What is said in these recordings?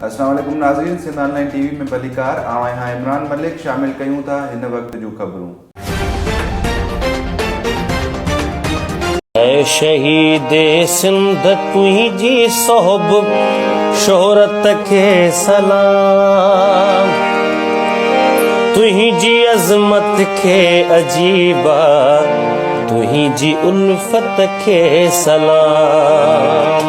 السلام عليڪم ناظرين Sindh online T V ۾ ڀليڪار آئون آهيان عمران ملڪ شامل ڪيون ٿا هن وقت جون خبرون. اي شهيد سنڌ تنهنجي سهب شهرت کي سلام تنهنجي عظمت کي عجيبا تنهنجي الفت کي سلام.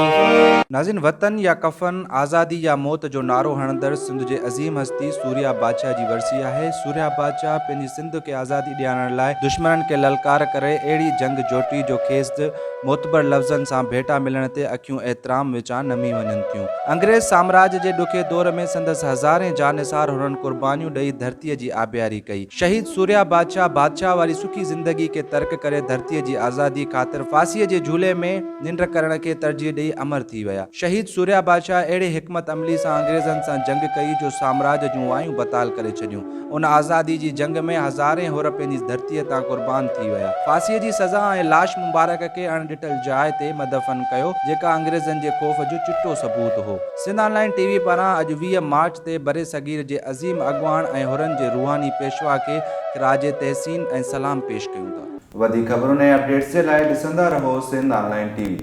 ناظرين وطن يا ڪفن، آزادي يا موت جو نعرو هڻندڙ سنڌ جي عظيم هستي سوريا بادشاهه جي ورسي آهي. سوريا بادشاهه پنهنجي سنڌ کي آزادي ڏيارڻ لاء دشمنن کي للڪار ڪري اهڙي جنگ جوٽي جو کيس د معتبر لفظن سان ڀيٽا ملڻ تي اکيون احترام وچان نمي وڃن ٿيون. انگريز سامراج جي ڏکي دور ۾ سندس هزارين جانثار حرن قربانيون ڏئي ڌرتي جي آبياري ڪئي. شهيد سوريا بادشاهه بادشاهه واري سکي زندگي کي ترڪ ڪري ڌرتي جي آزادي خاطر ڦاسي جي جهولي ۾ ننڊ ڪرڻ کي ترجيح ڏئي امر ٿي ويا. شهيد سوريا بادشاهه اهڙي حڪمت عملي سان انگريزن سان جنگ ڪئي جو سامراج جون وايون بتال ڪري ڇڏيون. ان آزادي جي جنگ ۾ هزارين حر پنهنجي ڌرتي تان قربان ٿي ويا. ڦاسي جي سزا ۽ لاش مبارڪ کي اڻ ڏٺل جاء تي مدفن ڪيو جيڪا انگريزن جي خوف جو چٽو ثبوت هو. Sindh online T V پاران اڄ ويهه مارچ تي برصغير جي عظيم اڳواڻ ۽ حرن جي روحاني پيشوا کي خراج تحسين ۽ سلام پيش ڪيون ٿا. وڌيڪ خبرن ۽ اپڊيٽس جي لاء ڏسندا رهو Sindh online T V.